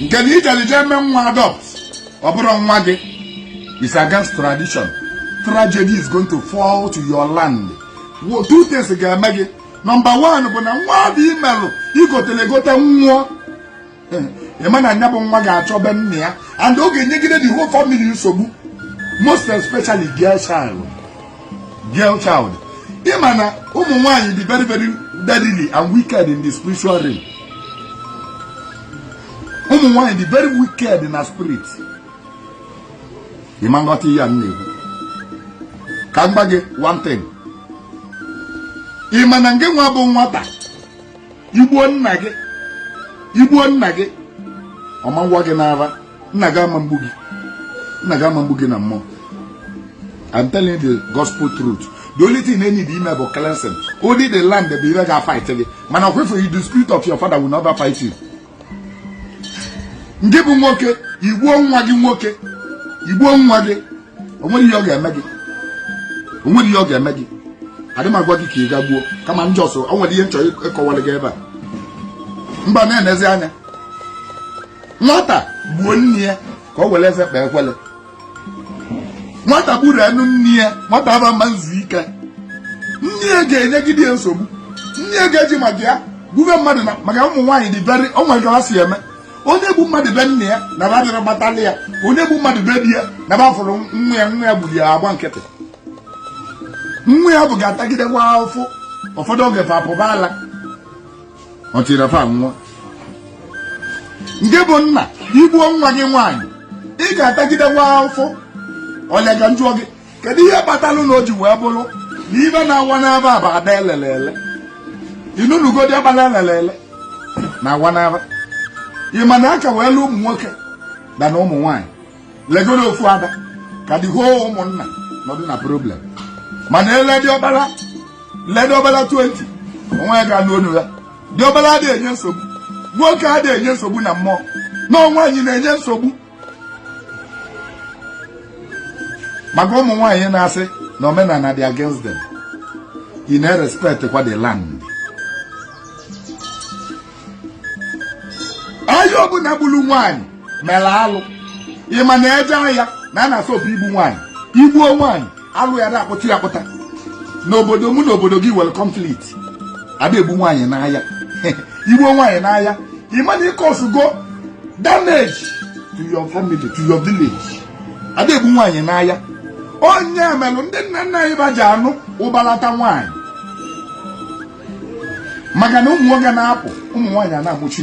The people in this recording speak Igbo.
nke na i jeli je eme nwa adopt ọ bụrụ nwa gị is against tradition tragedy is going to fall to your land two things ga-eme gị number one bụ na nwa dị i melụ i gotelụ egote nwụọ ị ma na nya bụ nwa ga-achọ be nna ya and ọ ga-enyegide the whole family nsogbu most especially girl child girl child ị ma na ụmụ nwaanyị dị very very deadly and wicked in the spiritual realm ụmụ nwaanyị dị very wicked na spirit ị ma nghọta ihe a m na-ekwu ka m gwa gị one thing ị ma na nke nwa bụ nwata i gbuo nna gị i gbuo nna gị ọ ma ngwa gị n'ara nna gị ama mgbu gị nna gị ama mgbu gị na mmụọ I'm telling the gospel truth the only thing ị need ime bụ cleansing only the land bụ ihe ga-fight gị mana ọkwefu you the spirit of your father will never fight you nke bụ nwoke i gbuo nwa gị nwoke i gbuo nwa gị o nwerọ ihe ọ ga-eme gị o nwerọ ihe ọ ga-eme gị adị m agwa gị ka ị ga gbuo kama na just o nwere ihe m chọ ịkọwara gị ebe a mba na-enezi anya nwata gbuo nne ya ka o were eze kpee ekwele nwata gburunụ nne ya nwata ahụ ama nzu ike nne ya ga-enyegide ya nsogbu nne ya ga-eji maka ya gbuve mmadụ na maka ụmụ nwaanyị dị very o nwere ka ha si eme ọ na-egbu mmadụ be nna ya na ba bịarọ gbatalị ya ọ na-egbu mmadụ be di ya na ba fụrụ na nwa ya gburu ya agba nkịtị nwa ya ahụ ga-atagidekwa afụ ụfọdụ oge fa apụba ala ọ tiri fa nwa nke bụ nna i gbuo nwa gị nwaanyị ị ga-atagidekwa afụ ọlịa ka m jụọ gị kedu ihe kpatalụ na o ji wee bụrụ na ihe na-awa n'afa bụ ada e lele ele ị nụtụgo diọkpala e lele ele na-awa n'afa ị ma na a ka wee lee ụmụ nwoke than ụmụ nwaanyị legodu ofu ada ka dị hoo ụmụnna nọdụ na problem mana e lee diọkpala lee diọkpala 20 onwe ga-anụ onu ya diọkpala adịghị enye nsogbu nwoke adịghị enye nsogbu na mmụọ na ọ nwaanyị na-enye nsogbu maka ụmụ nwaanyị na-asị na omenala dị against them ị na-erespect kwa the land onye ọbụla gburu nwaanyị mere alụ ị ma na e jee aya na a na-asọpụ igbu nwaanyị i gbuo nwaanyị alụ ya na-akpụta ya akpụta n'obodo mụ na obodo gị nwere conflict a da egbu nwaanyị n'aya i gbuo nwaanyị n'aya ị ma na ị causego damage to your family to your village a da egbu nwaanyị n'aya ọ nya melụ ndị nna nna anyị ba ji anụ ụbalata nwaanyị maka na ụmụ nwoke na-apụ ụmụ nwaanyị a na-amụchi